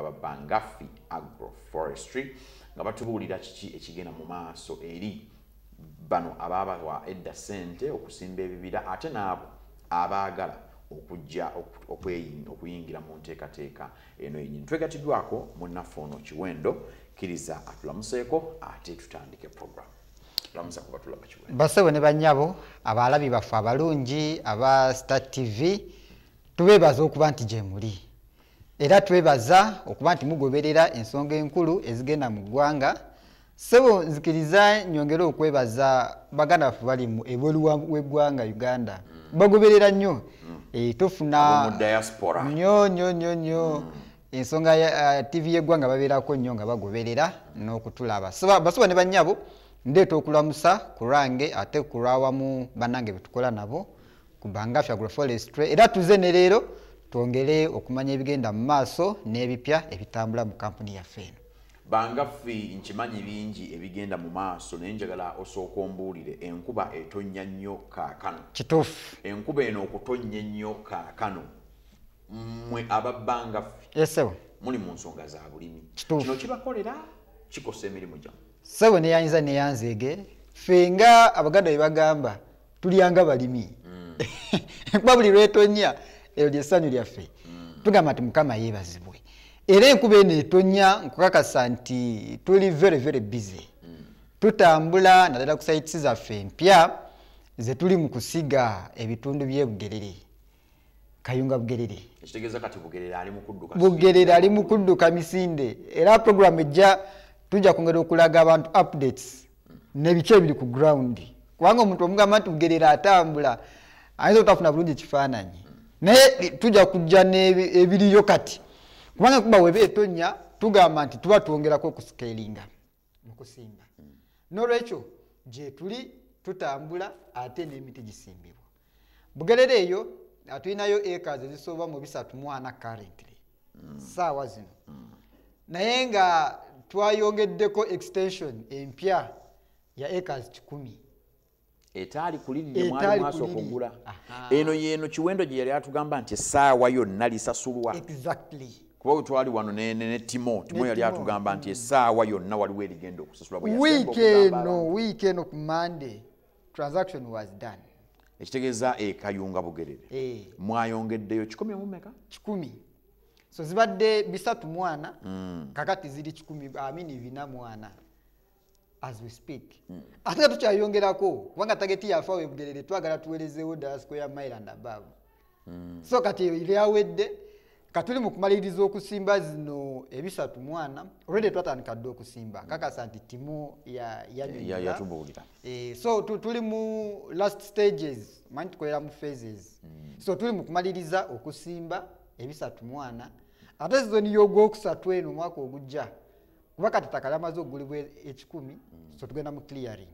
ababangafi agroforestry nga batubuulira kiki ekigenda mu maaso eri bano abaabawa edda ssente okusimba ebibira ate n'abo abaagala okujja okuyingira mu nteekateeka eno yenyini twegatiddwako munnaffe ono kiwendo kiriza atulamuseeko ate tutandike programu basebo ne banyabo abaalabi baffe abalungi aba star tv tubeebaza okuba nti gyemuli era twebaza okuba nti mugoberera ensonga enkulu ezigenda mu ggwanga sebo nzikiriza nyongere okwebaza baganda baffe bali ebweru weggwanga uganda bagoberera nnyo mm. eh, tufuna nyo nyo nyo nyo mm. ensonga ya uh, tv yeggwanga babeerako nnyo nga bagoberera n'okutulaba basuba ne bannyabo ndeeta okulamusa ku lwange ate ku lwawamu bannange betukola nabo ku bangafi agroforestry era tuze ne leero twongere okumanya ebigenda mu maaso n'ebipya ebitambula mu kampuni yaffe eno bangafi nkimanyi bingi ebigenda mu maaso naye njagala osooka ombuulire enkuba etonnya nnyo kaakano kituufu enkuba eno okutonnya ennyo kaakano mwe ababbanga ffe esebo muli mu nsonga za bulimi kino kibakolera kikosa emirimu gyamu sebo neyayinza neyanzeege ffe nga abaganda bebagamba tulyanga balimi mm. kuba buli lwetonya eryo lyessanyu lyaffe mm. tugamba nti mukama yebazibwe era enkuba eno etonya nkukakasa nti tuli very very busy mm. tutambula naddala ku saitisi zaffe empya zetuli mu kusiga ebitundu byebugerere kayunga bugerere ekitegeeza kati bugerere ali mukudduka bugerere ali mukudduka misinde era program ejja tujja kwongera okulaga abantu updates nebiki ebiri ku ground kubanga omuntu omugamba nti bugerere atambula ayinza otafuna bulungi ekifaananyi naye tujja kujja nebiriyo kati kubanga kuba weba etonya tugamba nti tuba twongerako okusikelinga mu kusimba mm. n'olwekyo gyetuli tutambula ate n'emiti gisimbibwa bugerera eyo tulinayo acres ezisoba mu bisatu mwana currently mm. saawa zino mm. naye nga twayongeddeko extension empya ya acres kikumi etaali kulirire mwali mwasooka ogula eno yeeno kiwendo gye yali atugamba nti essaawa yonna lisasulwa kuba wetwali wano ne timo timo yali atugamba nti essaawa yonna waliwo erigenda okusasula wiiki eno wiiki eno ku mande transaction was done ekitegeeza ekayunga bugerere eh. mwayongeddeyo kikumi mumeka kikumi so zibadde bisatu mwana mm. kakati ziri kikumi amini bina mwana as we speak mm. ate nga tukyayongerako kubanga tageti yafa webugerere twagala tuwerezeewo ddala square mile and above mm. so kati eyo lyawedde katuli mu kumaliriza okusimba zino ebisatu mwana olwedde twatandika dde okusimba mm. kakasa nti timu yatubuulira eh, so tuli mu last stages manyi tukolera mu phases mm. so tuli mu kumaliriza okusimba ebisatu mwana ate sizoni y'ogwokusatu eno omwaka ogujja kuba kati taka yamaze okugulibwa ekikumi so tugenda mu clearing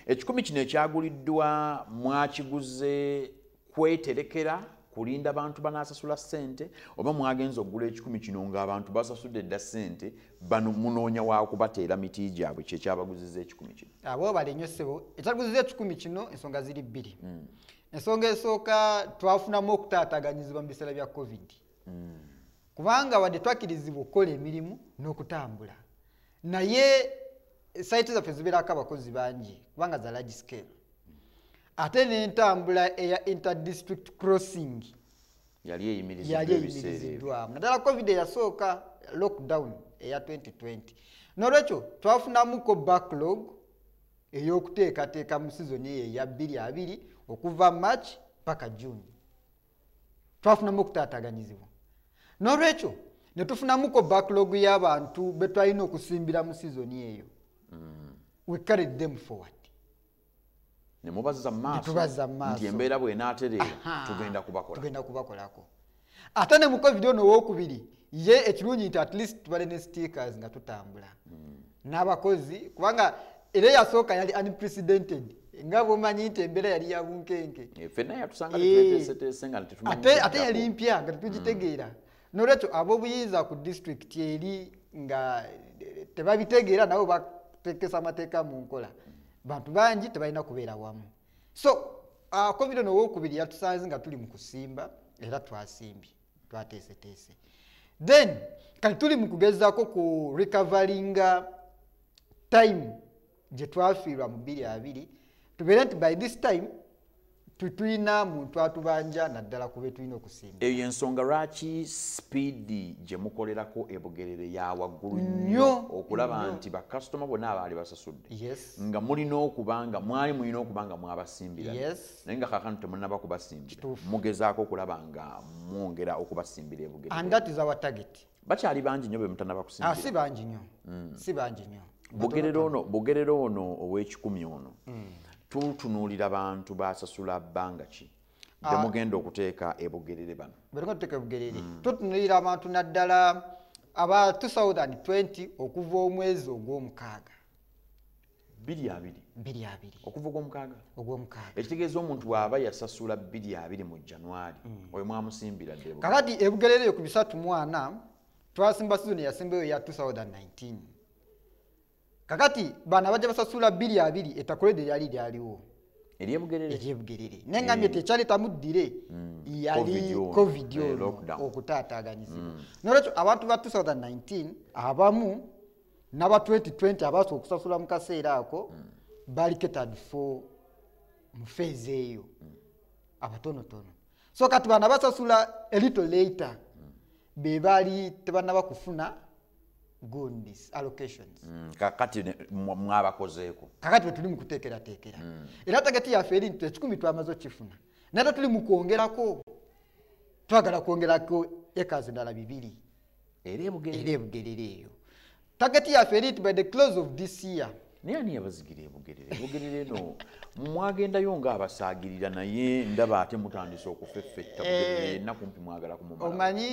ekikumi kino ekyaguliddwa mwakiguze kweterekera kulinda bantu banasasula sente oba mwagenza okugula ekikumi kino nga abantu basasudde dda sente bano munoonya wakubateera miti gyabwe kyekyabaguziza ekikumi kino abo ah, bali nyo sebo ekyaguziza ekikumi kino ensonga ziri bbiri hmm. ensonga esooka twafunamu okutaataganyizibwa mu biseera bya covid mm. kubanga wadde twakirizibwa okukola emirimu n'okutambula naye saiti zaffe zibeerako abakozi bangi kubanga za large scale ate n'entambula eya interdistrict crossing yali eyimiriziddwamu naddala covid eyasooka lockdown eya 2020 n'olwekyo twafunamuko backlog ey'okuteekateeka mu sizoni eyo eya 22 okuva march paka june twafunamu okutaataganyizibwa n'olwekyo ne tufunamuko backlog y'abantu be twalina okusimbira mu sizoni eyo mm. we carried them forward nemubaza maaso embeera bwenaatereera tugenda kubakolako ate ne mu covid ono owokubiri ye ekirungi nti at least tubale ne stickers nga tutambula hmm. n'abakozi kubanga era eyasooka yali unprecedented nga bwomanyi nti embeera yali ya bunkenke eh, eh, ate yali mpya nga tetugitegeera hmm. nolwekyo ab'obuyinza ku disitulikiti eri nga eh, tebabitegeera nabo batekesa amateeka mu nkola bantu bangi tebalina kubeera wamu so covid ah, ono owokubiri yatusanze nga tuli mu kusimba era twasimbye twateeseteese then kati tuli mu kugezaako ku recoveringa time gye twafiirwa mu bbiri abiri tubeere nti by this time tetulina muntu atubanja naddala ku betulina okusinga eyo ensonga lwaki sipiidi gye mukolerako ebugerere ya waggulu nnyo okulaba nti bakasitoma bonna abaali basasudde nga mulina okuba nga mwali mulina okuba nga mwabasimbira naye nga kakano temunaba kubasimbira mugezaako okulaba nga mwongera okubasimbira ebugerere bakyali bangi nyo bemutanaba kusimbira ah, si bangi nyo hmm. si bangi nyo bugerere ono bugerere ono ow'ekikumi ono hmm. tutunuulira bantu basasula bbanga ki ah. bemugenda okuteeka ebugerere bano bwetugenda tuteeka ebugerere hmm. tutunuulira abantu naddala aba 2020 okuva omwezi ogw'omukaaga biri abiri biri abiri okuva ogwomukaaga ogwomukaaga ekitegeeza omuntu bw'aba yasasula biri abiri mu januari mm. oyo mwamusimbira dde kakati ebugerereyo ku bisatu mwana twasimba sizoni yasembayo ya 2019 kakati bana bajja basasula biri abiri etakulede lyali lyaliwo eryebugerere naye nga mye tekyali tamuddire mm. yali covid eh, ono okutaataaganyizibwa mm. nolwekyo abantu ba 2019 abamu naba 2020 abaasa okusasula mukaseera ako mm. bali catered for mufeeza eyo mm. abatonotono so kati bana basasula elito later mm. bebaali tebanaba kufuna gundis allocations mm, kakati mwabakozeeko kakati bwetuli mukuteekerateekera mm. era tageti yaffe eri nti ekikumi twamaze okifuna nate tuli mukwongerako twagala kwongerako ekazi ndala bibiri era ebugerera eyo tageti yaffe erit by the close of this year naye ani yabazigira ebugerere ebugerere no mwagendayo nga abasaagirira naye ndaba ate mutandise okufeffetta bugererenna eh, kumpi mwagala kumumala omanyi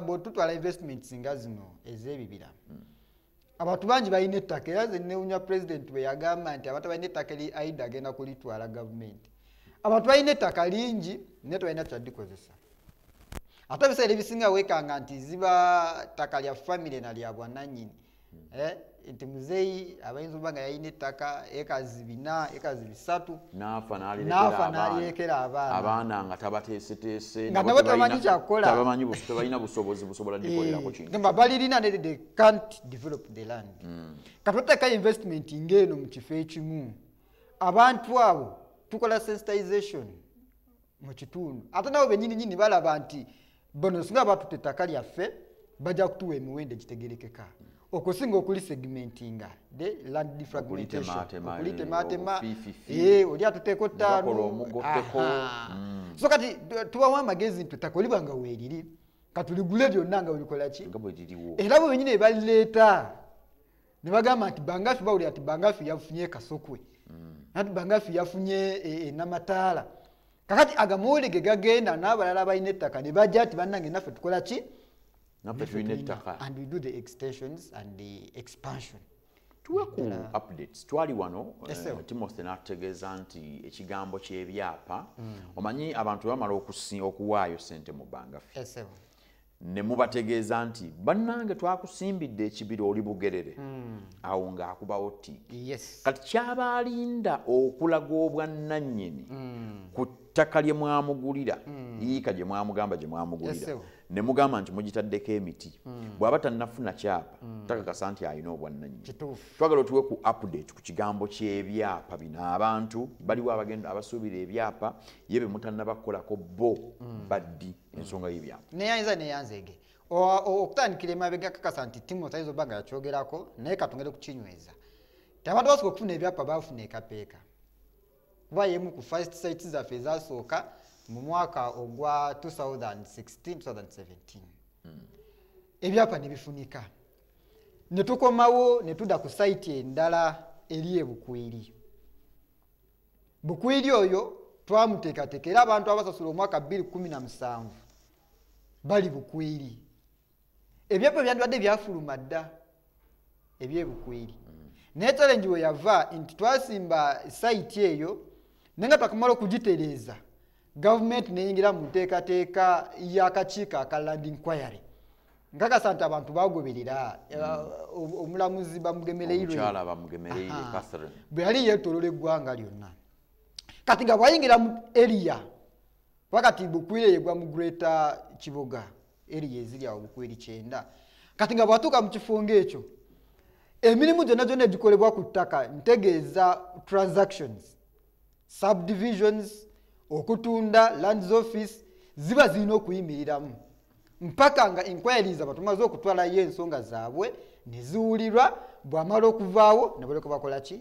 bwotutwala investments nga zino ez'ebibira hmm. abantu bangi balina ettaka era nze newunya pulezidenti bwe yagamba nti abantu balina ettaka eri aida agenda kulitwala gavumenti abantu balina ettaka lingi naye tebalina kyadikozesa ate ebiseera ebisinga weekanga nti ziba ttaka lya famire na lya bwananyini eh, nti muzeeyi abayinza oba nga yalina ettaka ekazi bina ekazi bisatu naafa nalirekera abaana nga tabateeseteese nga nabo tamanyi kyakukola tebalina busobozi busobola likolerako kintu balirina nerede can't develop the land mm. katoteeka investment ngaeno mu kifo ekimu abantu abo tukola sensitization mu kitundu ate nabo benyini nyini balaba nti bono singa batute ettaka lyaffe bajja kutuwa emiwendo egitegerekeka okusinga okuli segmentinga the land defragmentationokulitematema eh, oli atuteeko ttaano mm. so kati tubawo amagezi nti ettaka olibanga weeriri katuligule lyonna nga bwebikolaki era bwe benyini ebalireeta ne bagamba nti bangafi bawulira nti bangafi yafunye kasokwe mm. nati bangafi yafunye enamataala e, kakati agamuwuli ge gagenda n'abalala balina ettaka ne bajja nti bannange naffe tukola ki naffe tulina ettaka and we do the extensions and the expansion tuwe ku updates twali wano yes, uh, timothy n'atutegeeza nti ekigambo ky'ebyapa mm. omanyi abantu bamala okuwaayo sente mu bbanga ffe yes, ne mubategeeza nti bannange twakusimbidde ekibira oli bugerere mm. awo ng'akubawo tiiki yes. kati kyaba alinda okulaga obwannannyini mm. ku ttaka lye mwamugulira hmm. yiika gye mwamugamba gye mwamugulira ne mugamba nti mugitaddeko emiti hmm. bw'aba tannafuna kyapa hmm. takakasa nti alina obwannanyi twagala otuwe ku update ku kigambo ky'ebyapa bino abantu baliwo abagenda abasuubira ebyapa ye be mutannabakolako bo baddi ensonga y'ebyapa naye ayinza neyanzeege okutandikira emabega kakasa nti timu tayiza oba nga yakyogerako naye katungere kukinyweza tebadde basobola okufuna ebyapa bafuna ekapeeka kuba yemu ku first site zaffe ezasooka mu mwaka ogwa 2016-2017 hmm. ebyapa nebifunika netukomawo netuda ku site endala eri ebukwiri bukwiri oyo twamuteekateeka era abantu abasasula omwaka 217 bali bukwiri ebyapa byandibadde byafuluma dda ebyebukweri mm. naye challenge weyava nti twasimba saiti eyo naye nga twakamala okugitereeza gavumenti neyingira mu nteekateeka y'akakiiko aka land inquiry nkakasa nti abantu bagoberera eh, mm. omulamuzi bamugemereirwebwe yali yetolola eggwanga lyonna kati nga bwayingira mu eriya kuba kati bukwire yegwa mu greater kiboga eriya eziri awo bukwiri kyenda kati nga bwatuuka mu kifo ngaekyo emirimu gyonna gyonna egikolebwa ku ttaka ntegeeza transactions subdivisions okutunda lands office ziba zirina okuyimiriramu mpaka nga inquiries abatumaze okutwalayo ensonga zaabwe neziwulirwa bwamala okuvaawo nebaleka bakola ki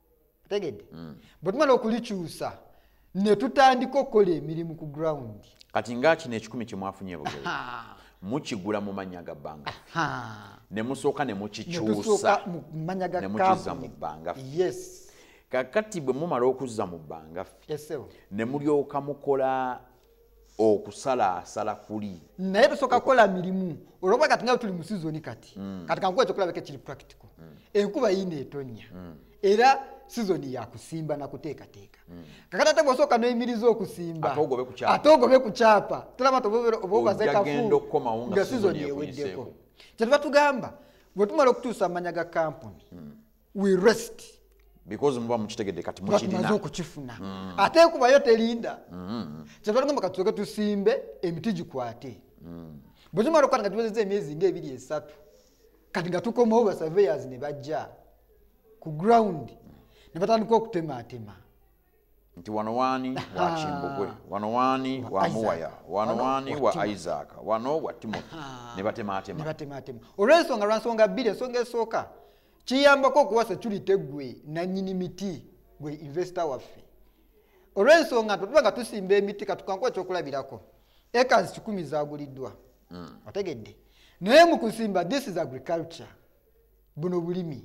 tegedde mm. bwe tumala okulikyusa ne tutandika okukola emirimu ku ground kati nga kino ekikumi kyemwafunye bugere mukigula mu mannya ga bbanga ne musooka ne mukikyusa ne mukiza mu bbanga kakati bwe mumala okuzza mu bbanga ffe ne mulyoka mukola okusala asala kuli naye tusoka kola milimu oloba kati nga tuli musizoni kati mm. kati kankuwa ekyokola beke kiri practical mm. enkuba yina etonya mm. era sizoni yakusimba nakuteekateeka mm. kakati ate bwosooka noyimiriza okusimba ate ogobe ku kyapa tulaba tobazekafuokomawo nga sizoni eweddeko kyetuba tugamba bwetumala okutuusa amanya ga kampuni mm. we rest because muba mukitegedde kati mukirina okukifuna mm. ate kubayo terinda mm. kyetwalagamba kati tuke tusimbe emiti gikwate mm. bwe tumala okukwata nga tuwezeza emyezi nga ebiri esatu kati nga tukomawo basurveyors ne bajja ku ground ne batandika okutemaatema nti wano waani wa kimbugwe wano waani wa muwaya wano waani wa isaaka wano wa timothy ne batemaatema olw'ensonga lwansonga bbiri ensonga esooka kiyambako okuwa security gwe nanyini miti gwe investor waffe olw'ensonga nti tuba nga tusimba emiti katukankuba ekyokulabirako ekas kikumi zaguliddwa hmm. otegedde naye mu kusimba this is agriculture buno bulimi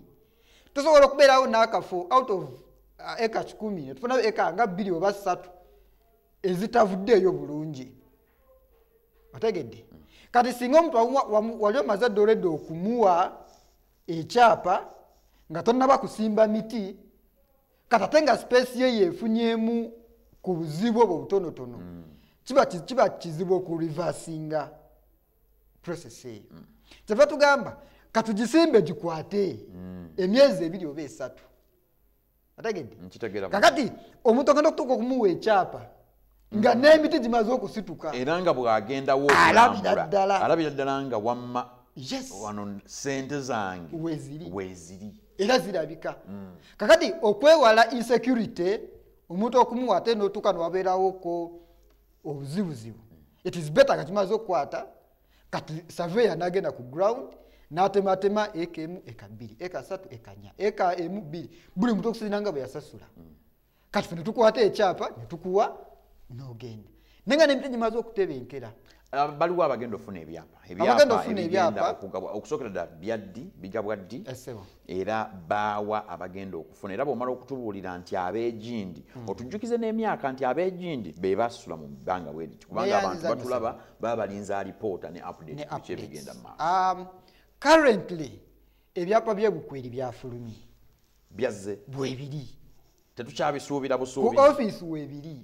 tusobola okubeerawo n'akafo out of uh, eka kikumi netufunayo eka nga bbiri oba ssatu ezitavuddeeyo bulungi otegedde kati singa omuntu wali omaze ddoledde okumuwa ekyapa nga tonaba kusimba miti kati ate nga sipeesi ye yeefunyemu ku buzibu obwo butonotono mm. kiba kizibu okulivasinga process eyo mm. kyeva tugamba katugisimbe gikwate mm. emyezi ebiri oba esatu ategedde mm, kakati omuntu agenda okutuuka okumuwa ekyapa nga mm. n'emiti gimaze okusituka era nga bw'agendawo alabira ddala alabira ddala nga wamma wano sente zange weeziri era zirabika mm. kakati okwewala insecurity omuntu okumuwa ate n'otuuka newabeerawoko obuzibuzibu it is better nga kimaze okukwata kati saveya nagenda ku ground natematema eka emu eka bbiri eka satu eka nya eka emu bbiri buli muntu okusinzira nga bwe yasasula kati fe netukwata ekyapa netukuwa nogenda naye nga nemiti gimaze okutebenkera ah, baliwo abagenda ofuna ebyapa ebyapaokusokera dda byaddi bigabwa ddi era baawa abagenda okufuna era bwomala okutubuulira nti ab'egindi hmm. otujjukize n'emyaka nti ab'egindi be basula mu bbanga bweriti kubanga abantu batulaba baba balinza alipoota ne update biki ebigenda mu maaso um, currently ebyapa byebukweri byafulumye byazze bwebiri tetukyabisuubira busuubi ku office webiri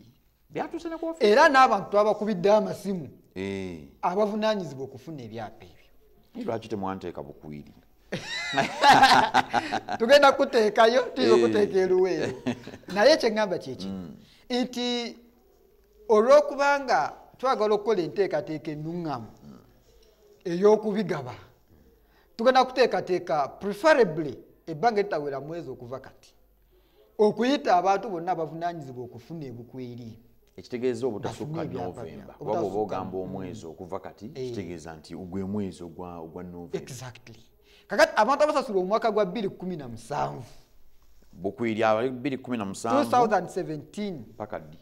era n'abantu abakubidde amasimu eh. abavunanyizibwa okufuna ebyapa ebyo lwaki temwanteeka bukwiri tugenda kuteekayo tuyinza eh. okuteeka eruweero naye kyeŋamba kyeki mm. nti olwokubanga twagala okukola enteekateeka enuŋŋamu ey'okubigaba tugenda kuteekateeka preferably ebbanga eritawera mwezi okuva kati okuyita abantu bonna abavunanyizibwa okufuna ebukweri ekitegeeza obutasukka novemba oba bwoba ogamba omwezi okuva kati eh. kitegeeza nti gwe mwezi ogwa novemba kakati abantu abasasula omwaka gwa 217 bukwiri abali 217 paka ddi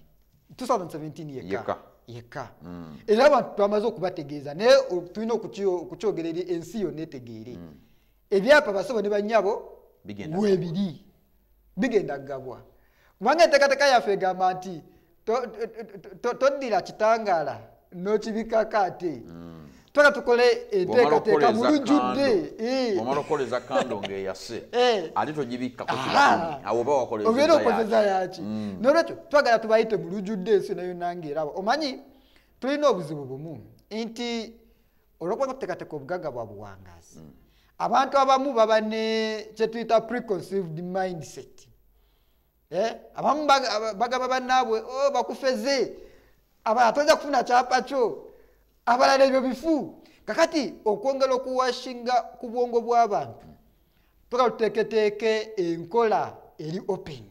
2017 yeka yeka mm. era abantu twamaze okubategeeza naye tulina okukyogera eri ensi yonna etegeere mm. ebyapa basebo ne banyabo webiri bigenda kugabwa kubanga enteekateeka yaffe egamba nti toddira kitangaala n'okibikako ate mm. twala tukole enteekateeka mu lujjudde omala okukola eza kando ngaeyase ate togibikkako awo oba wakoleobeera okozeza yaki mm. nolwekyo twagala tubayite mu lujjudde ensi nayo nange eraba omanyi tulina obuzibu bumu nti olwokuba nga tuteekateeka obugagga bwa buwangazi mm. abantu abamu baba ne kyetuyita preconceived mindset eh? abamu bagaba banaabwe oh, bakufeze abalala toja kufuna kyapa kyo abalala ebyo bifu kakati okwongera okuwashinga ku bwongo bw'abantu toka tuteeketeeke enkola eri open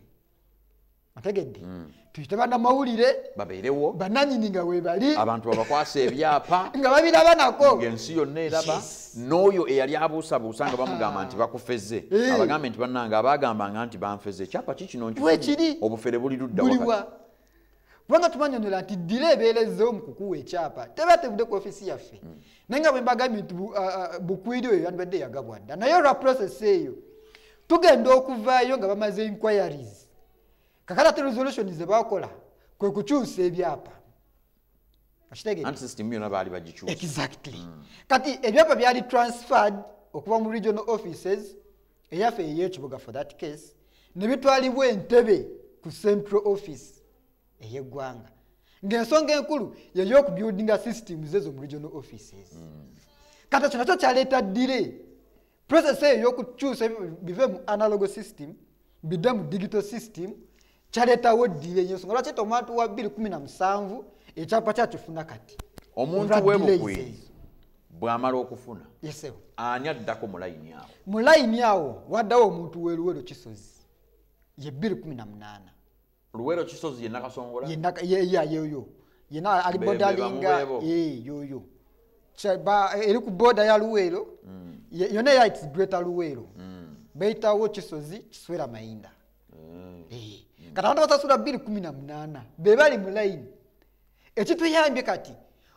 ategedde mm. tuyite banamawulire babeerewo bananyini nga webali abantu babakwasa ebyapa nga babiraba nako ngaensi yonna eraba n'oyo eyali abuusabuusa nga bamugamba ah. nti bakufeze eh. abagambe nti bannanga abagambanga nti banfeze ekyapa kikino nkifuni obufere buli luddawa kubanga tubanyonyola nti ddira ebeera ezzewo mu kukuwa ekyapa teba tevudde ku ofisi yaffe hmm. naye nga bwembagambye nti uh, uh, bukwiri oyo yandibadde yagabwa dda naye olwa process eyo tugenda okuvaayo nga bamaze inquiries kakati ate resolution zebakola kwe kukyusa ebyapa Mm. kati ebyapa byali transferred okuva mu regional offices eyaffe eyekibuga for that case nebitwalibwa entebe ku central office eyeggwanga ngaensonga enkulu yeyokubuildinga systems ezo mu regional offices mm. kati ekyo nakyo kyaleeta dire process eyo yokukyusa bive mu analog system bidde mu digital system kyaleetawo ddiire yensonga lwaki ete omwantu wa 217 ekyapa kyakifuna kati omuntu webugwi bwamala okufuna ani addako mulayini awo mulayini awo waddawo omuntu weruweru kisozi ye 218 luwero kisozi yenakasongola yeyoyo yena ali bodalinga yoyo eri ku boda ya luwero mm. yona yaiti greta luwero mm. beitawo kisozi kiswera mayinda mm. eh, kati abantu basasula biri kumi na munana bebali mulayini ekituyambye kati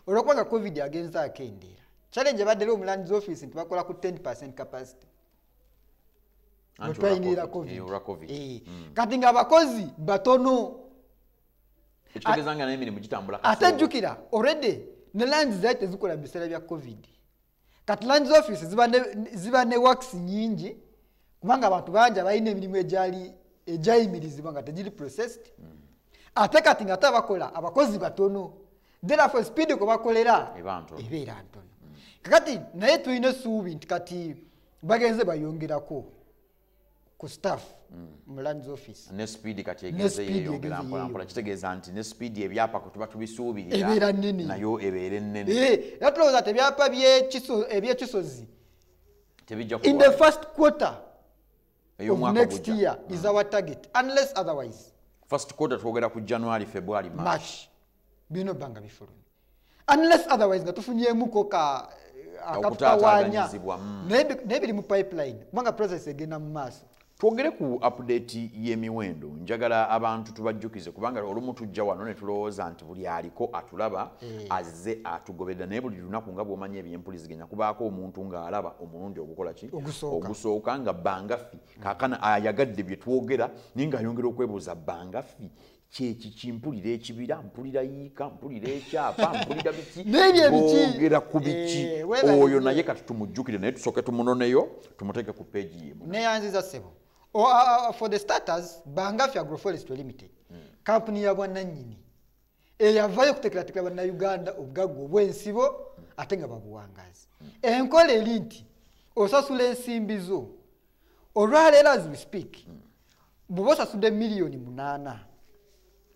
olwokubanga covid agenza akendeera challenge ebadde eri omulandizi office nti bakola ku 10 percent capacity wetwayingira covid eh, mm. kati nga abakozi batono ate jjukira oredi ne langi zai tezikola mu biseera bya covid kati langi zoffice ziba ne wax nyingi kubanga abantu bangi abalina emirimu egyali egyayimirizibwa nga tegiri processed mm. ate kati nga ate abakola abakozi batono therefore speed kwe bakolera ebeera ntono mm. kakati naye tulina essuubi nti kati bagenze bayongerako ku staff mm. mu lands office ne speed kati egeze yeyongera mpola mpola kitegeeza nti ne speed ebyapa kwe tuba tubisuubirira ebeera nnene nayo ebeere nnene eh, era tulowooza nti ebyapa ebyekisozi tebijja in the first quarter of next year is mm. our target unless otherwise first quarter twogera ku january february march birina obba nga bifulumye unless otherwise nga tufunyemuko ka eh, akatutawanya mm. naye biri mu pipeline kubanga process egenda mu maaso twogere ku apudeeti y'emiwendo njagala abantu tubajjukize kubanga olumu tujja wano ne tulowooza nti buli aliko atulaba eh. azze atugoberera naye buli lunaku nga bwomanya ebyempuliziganya kubaako omuntu ng'alaba omulundi ogukola ki ogusooka nga bangaffi kakana ayagadde bye twogera naye ng'ayongera okwebuuza bangaffi kyekiki mpulira ekibira mpulira yiika mpulira ekyapa mpulira bikiogera ku biki eh, oyo naye kati tumujjukire naye tusooke tumunoneyo tumuteeke ku peegi yemu neyanziza sebo oh, ah, ah, ah, for the starters bangafi agroforest limited hmm. kampuni ya bwananyini eyavayo eh, okutekeratekera bannayuganda obugagga obwensibo ate nga babuwangazi hmm. enkola eri nti osasula ensimbi zo olwaleero as we speak hmm. bwoba osasudde miliyoni munaana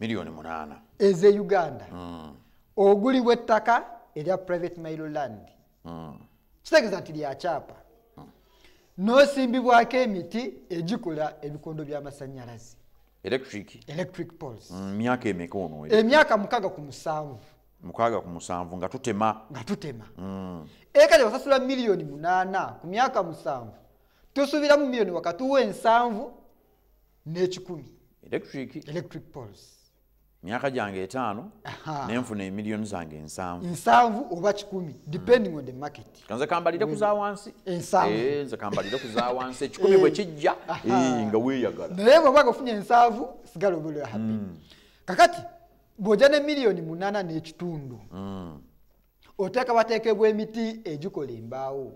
miliyoni munaana eze uganda mm. ogulibwa ettaka erya private mile land mm. kitegeeza nti lyakyapa mm. nosimbibwako emiti egikola ebikondo by'amasanyalaze electric poles mm, myaka emeka ono emyaka mukaga ku musanvu mukaaga ku musanvu nga tutema nga tutema mm. ekati osasula miliyoni munaana ku myaka musanvu tusuubira mu miliyoni wakati w'ensanvu n'ekikumi electric poles myaka gyange etaano nenfuna emiliyoni zange ensanvu nsanvu oba kikumi depending mm. on the market kanze kambalire ku zawansi ensanvu eh, nze kambalire ku zawansi ekikumi bwe eh. kijja eh, nga weeyagala naye bwoba nga ofunye ensanvu sigala obeera happy mm. kakati bw'ojja ne miliyoni munaana n'ekitundu mm. oteekabateekebwa emiti egikola embaawo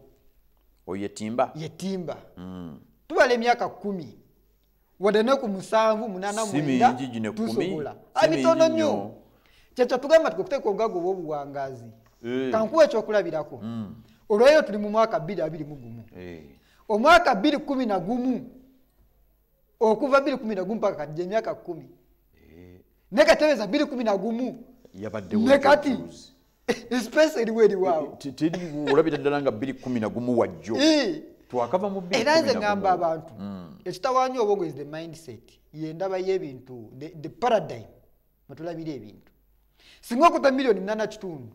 oyo yetimba yetimba mm. tubala emyaka kumi wadde ne ku musanvu munana mwenda tusobola abitono ah, nnyo kyekyo tugamba ti okuteeka obugaga obwobuwangazi eh. kankuwa ekyokulabirako mm. olweyo tuli mu mwaka bbiri abiri mu gumu eh. omwaka bbiri kumi na gumu okuva biri kumi nagumu paka kati gyemyaka kumi eh. naye katereeza biri kumi nagumu ne kati esipesi eriwo eriwaawo eh, olabira ddala nga biri kumi nagumu wajjo eh. twakava mu era nze ngamba abantu hmm. ekitawaanya obwongo is the mindset yendaba y'ebintu the paradigm mwetulabira ebintu singa okuta miliyoni nana kitundu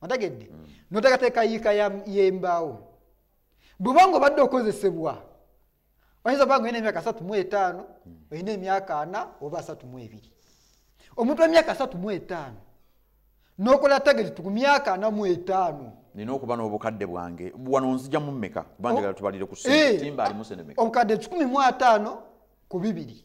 otegedde hmm. noteekateeka yiika y'embaawo bwubanga obadde okozesebwa oyinza obanga olina emyaka satu mu etaano olina emyaka ana oba asatu mu ebiri omuntu wemyaka satu mu etaano nokola tageti ku myaka ana mu etaano nina okuba n'obukadde bwange wano nzija mu mmeka kuba njagala tubalire ku eh, obukadde kikumi mu ataano ku bibiri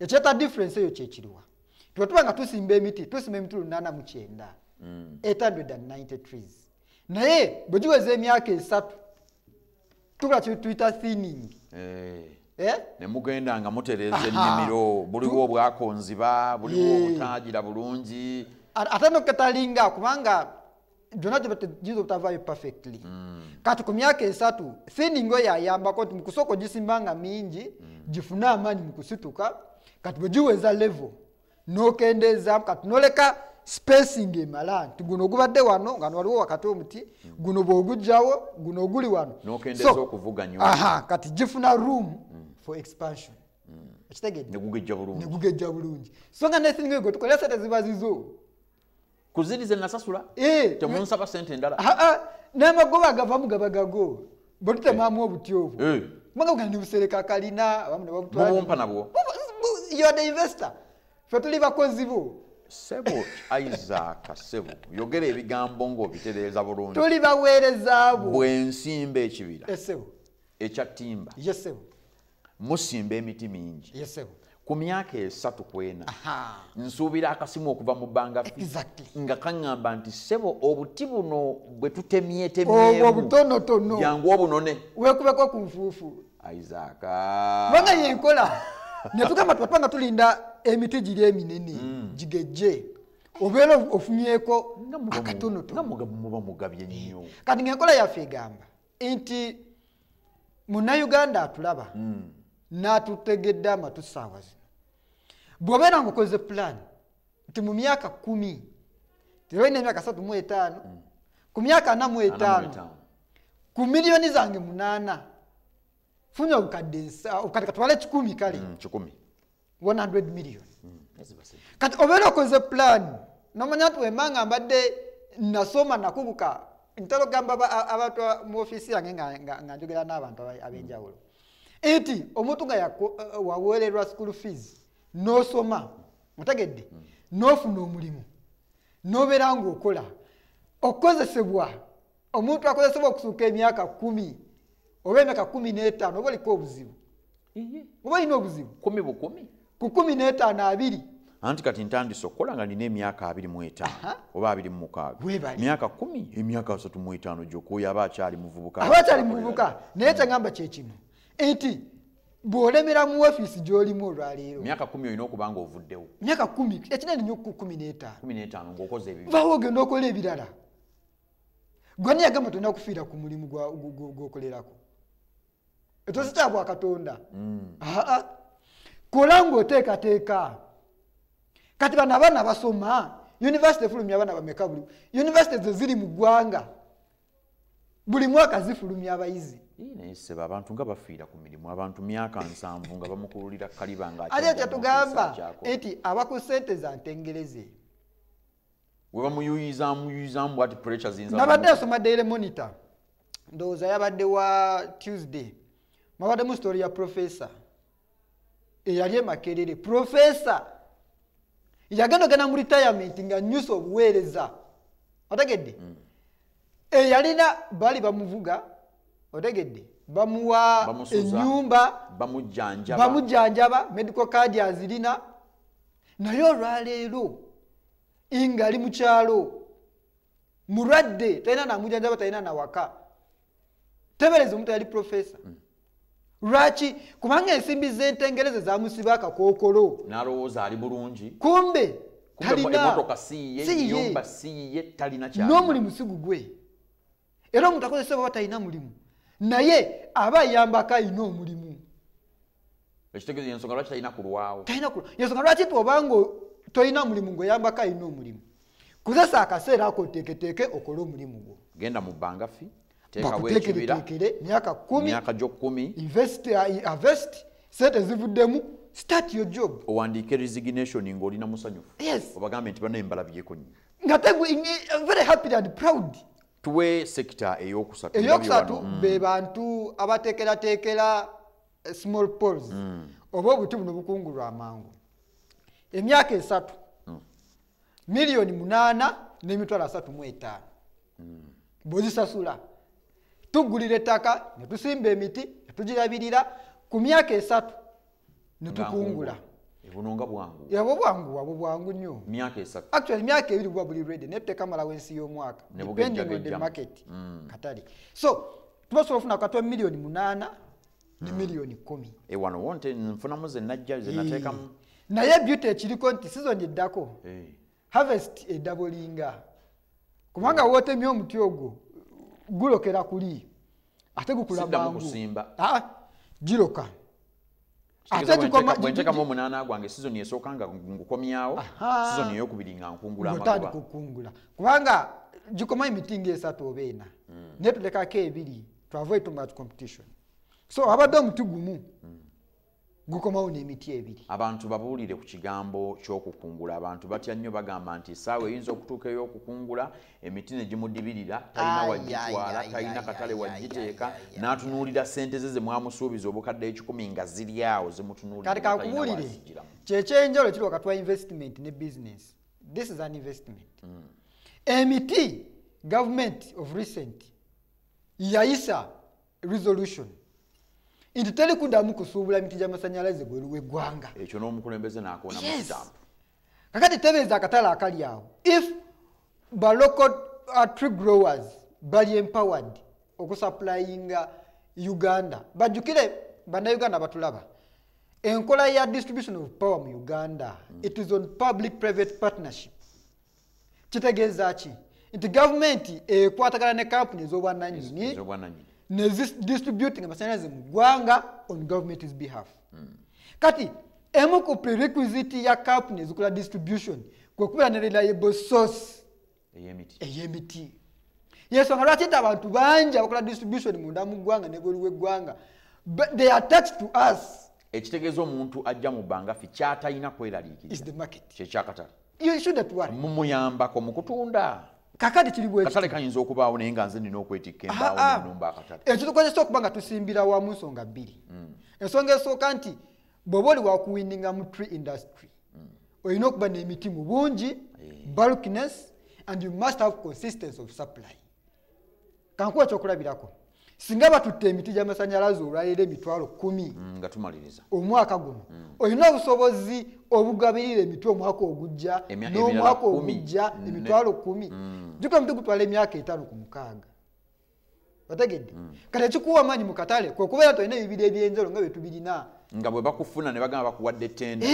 ekyeta difference eyo kyekiriwa twetuba nga tusimba emiti tusimba emiti lunana mu kyenda 890 mm. trees naye bwe giweza emyaka esatu tukola kyetuyita thinning eh. Eh? ne mugenda nga mutereeza ennimiro buliwo obwakonziba buliwo obutagira bulungi ate noketalinga kubanga byonna giyinza obutavaayo perfectly mm. kati ku myaka esatu thining oyo ayambako nti mukusooka ogisimba nga mingi mm. gifune amaanyi mukusituka kati bwe giweza level nokendeezaamu kati noleka spacing emala nti guno ogubadde wano nga nwaliwo wakati omuti mm. guno bwogujjawo guno oguli wano aha kati gifuna room for expansion ekitegedde negugejja bulungi so nga nethining oyo gwetukolera sente ziba zizo kuzirize nasasula eh, temunsaba sente endala n'amagoba agavamu gaba gago bwe tutemaamu eh. obuti obwo eh. kubanga bugana ne busereka kalina abamu ne babutwabumpa nabwo yo the investor fe tuli bakozi bo sebo isaaka sebo yogera ebigambo ng'obitereeza bulungi tuli baweereza bo bwensimba ekibira esebo ekya timba yesebo musimba emiti mingi ku myaka esatu kwena nsuubira akasimu okuva mu bbanga nga kaŋŋamba nti ssebo obuti buno bwe tutemyetemyemujangu obunone wekubeko ku nfuufu isaaka kubanga yenkola netugamba tupapa nga tulinda emiti giri eminene mm. gigejje obeera ofunyeeko akatonotonomuba mugabye nnyo kati ngaenkola yaffe egamba nti munnayuganda atulaba mm. n'atutegedde amatu saawa zino bw'obeera ngaokoze pulaani nti mu myaka kumi tebalina emyaka satu mu etaano mm. ku myaka ana mu etaano ku miliyoni zange munaana funye obukadde nsa obukadde katwala ekikumi kale mm, kikumi 100 million mm, kati obeera okoze plan nomanya nti wemba nga mbadde nasoma nakubuka ntera okugamba abantu mu ofiisi yange nga njogera n'abantu ab'enjawulo nti omuntu nga waweererwa school fees n'osoma otegedde mm. n'ofuna omulimu n'obeera ng'okola okukozesebwa omuntu akozesebwa okusuuka emyaka kumi oba emyaka kumi n'etaano oba oliko obuzibu oba olina obuzibu kumi bukumi ku kumi n'etaano abiri anti kati ntandise okukola nga nina emyaka abiri mu etaano oba abiri mu mukaaga myaka kumi emyaka asatu mu etaano gyokuoyo aba akyali muvubuka aba akyali muvubuka naye kyagamba kyekino nti bwolemera mu ofiisi gyolimu olwaleero myaka kumi olina okuba nga ovuddewo myaka kumi ekinene nyo kumi n'etaano kumi n'etaano ngaokoze ebyo bawo ogenda okola ebirala gwani yagamba tolina kufiira ku mulimu gwokolerako ekyo si kyabwa katonda mm. kola ngaoteekateeka kati bano abaana basoma univesity efulumya abaana bameka buli univesity ze ziri mu ggwanga buli mwaka zifulumya abayizi nayeseba abantu nga bafiira ku mirimu abantu myaka nsanvu nga bamukululira kaliba nga ate kyetugamba nti aba ku sente za ntengereze webamuyuyizamuyuyizaamu bwati pressure zinza nabadde asoma daily monitor ndowooza yabadde wa tuesday mwabaddemu story ya professor eyali emakerere professor yagenda ogenda mu retirement nga nyusa obuweereza otegedde mm. eyalina bali bamuvuga otegedde bamuwa enyumba bamujjanjaba medical card azirina naye olwaleero nga ali mukyalo mulwadde talina namujanjaba talina nawaka tebereza omuntu yali profesa mm. lwaki kubanga ensimbi zentengereze zamusiba akakokolo nalowooza ali bulungi kumbe talina siyiye n'omulimu sigugwe era omuntu akozesa baba talina mulimu naye aba ayambako alina omulimu ekitegeeza yensonga lwaki talina kulwawo talina kulwa yensonga lwaki twobanga tolina mulimu ngaoyambako alina omulimu kozesa akaseera ako oteeketeeke okole omulimu gwo genda mu bbanga fi teekawoekibiraekere myaka kumi myaka gyokumi invest avest uh, sente zivuddemu start your job owandiika resignation ngaolina musanyufu yes obagambe nti banaye mbalabyeko nyo nga very happy and proud tuwe sekita eyokusatu eyokusatu mm. be bantu abateekerateekera eh, small pols mm. oba obuti buno bukungulwa amangu emyaka esatu mm. miliyoni munaana n'emitwalo asatu mu etaano mm. bwezisasula tuggulira ettaka ne tusimba emiti ne tugirabirira ku myaka esatu netukungula buno nga bwangu yabwo bwangu wabwo bwangu nnyo myaka esatu actually myaka ebiri buba buli ready naye tekamalawo ensi y'omwaka depending on the market mm. katale so tuba sobola ofuna katwa miliyoni munaana ne mm. miliyoni kumi ewano wonte nfunamu zenajja zenateekamu naye beauty ekiriko nti sizoni eddako hey. Eh. harvest edabolinga kubanga wotemye omuti ogwo gulokera kuli ate gukula mangu ah, giroka bwentekamu omunaana gwange sizoni esooka nga ngukomyawo sizoni eyokubiri nga nkungulaokukungula kubanga gikoma emiti nga esatu oba ena hmm. naye tulekako ebiri to avoid too much competition so abadde omuti gumu mm. gukomawo n'emiti ebiri abantu babuulire ku kigambo ky'okukungula abantu batya nnyo bagamba nti esaawa eyinza okutuuka ey'okukungula emiti ne gimudibirira talina wagitwala talina katale wagiteeka n'atunuulira ssente ze ze mwamusuubiza obukadde ekikumi nga ziri awo zimutunuulirkati kakubuulire kyekyenjalo kiri wakati wa investment ne business this is an investment mm. emiti government of recent yayisa resolution nti teri kuddamu kusuubula miti gy'amasannyalaze bweru w'eggwanga ekyo n'omukulembeze n'akoona mu kitambo kakati tebeeza akatale akali awo if balocal uh, tree growers bali empowered okusupplyinga uganda bajjukire bannayuganda batulaba enkola ya distribution of power mu uganda mm. it is on public private partnership kitegeeza ki nti gavumenti ekwatagana ne kampuni ez'obwananyini ne distributing amasanyalaze mu ggwanga on government's behalf hmm. kati emu ku prerequisite ya kampuni ezikola distribution kwekubeera ne reliable source ey'emiti yensonga lwaki nti abantu bangi abakola distribution munda mu ggwanga nebweru w'eggwanga they are tax to us ekitegeeza omuntu ajja mu bbanga ffe kyatalina kweraliikiriza kyekyakatale mumuyambako mukutunda kakati kiribwekatale kayinza okubaawo naye nga nze nina okwetikka embaawoenumba akatale ekyo tukozesa okuba nga tusimbira wamu nsonga bbiri mm. ensonga esooka nti bweoba oli wakuwinninga mu tree industry mm. olina okuba n'emiti mu bungi eh. bulkness and you must have consistency of supply kankuwa kyokulabirako singa batutte emiti gyamasanyalaze olwaleero emitwalo kumi mm, nga tumaliriza omwaka guno mm. olina obusobozi obugabirira emiti omwaka ogujja n'omwaka ogujja mm. emitwalo kumi juka emiti gutwala emyaka etaano ku mukaaga otegedde kati ekikuwa amaanyi mu katale kwekubeera tolina ebibiri ebyenjalo nga byetubirina nga bwe bakufuna ne bagamba bakuwadde tenda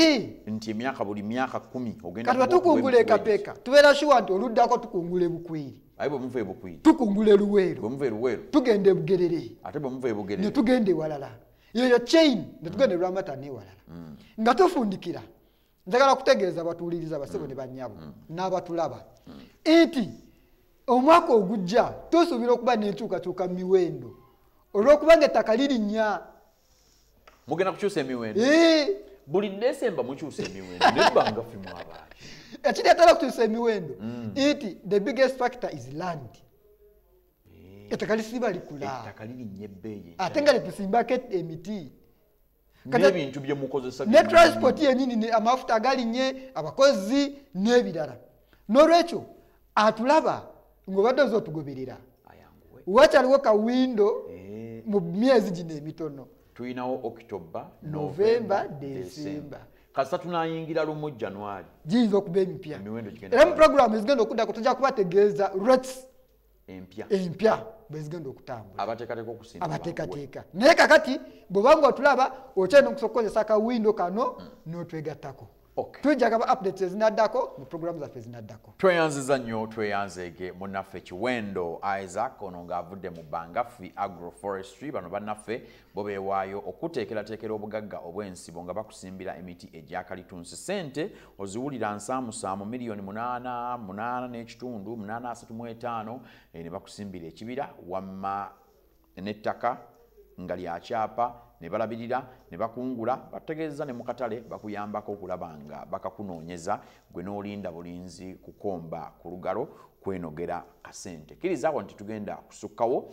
nti emyaka buli myaka kumi ogendkati batukungula ekapeeka tubeera shuwa nti oluddako tukungula ebukweri aye bwe muva ebukuyi tukungula eluweero bwe muva eluweero tugenda ebugerere ate bwe muva ebugerere ne tugenda ewalala yeyo chain ne tugenda mm. lwamata newalala mm. nga tufundikira njagala kutegeeza abatuwuliriza basebo ne banyabo mm. n'abatulaba nti omwaka ogujja tusuubira okuba n'enkyukakyuka mu miwendo olw'okubanga ettaka lirinnya mugenda kukyusa emiwendo buli desemba mukyusa emiwendo nebanga fimu abaali ekireetera okukyusa emiwendo mm. nti the biggest factor is land ettaka lisiba likulaettaka lirinya ebbeeyi ate nga lyetusimbako emiti nebintu byemukozesa ne transport yenyini amafuta agalinye abakozi n'ebirala n'olwekyo atulaba ng'obadde oza otugoberera wakyaliwo ka windo eh. mu myezi gino emitono tulinawo october november december kasita tunayingira lumu january giyinza okuba emipya era mu programu ezigenda okuddako tujja kubategeeza rets empya empya bwezigenda okutambula abateekateeka okusinza abateekateeka naye kakati bwobanga otulaba okyalina okusobola okukozesa akawindo kano hmm. n'otwegattako Okay. Tujja kaba updates ezinaddako mu program zaffe ezinaddako. Tweyanziza nnyo tweyanzeege munnaffe Kiwendo Isaac ono ng'avudde mu Bangafi Agroforestry bano bannaffe bo beewaayo okuteekerateekera obugagga obw'ensibo nga bakusimbira emiti egyakalitunsi ssente oziwulira nsaamusaamu miliyoni munaana munaana n'ekitundu munaana asatu mu etaano eh, ne bakusimbira ekibira wamma nettaka nga lya kyapa ne balabirira ne bakungula bategeeza ne mu katale bakuyambako okulaba nga bakakunoonyeza gwe n'olinda bulinzi kukomba ku lugalo kwenogera kasente kirizaako nti tugenda kusukkawo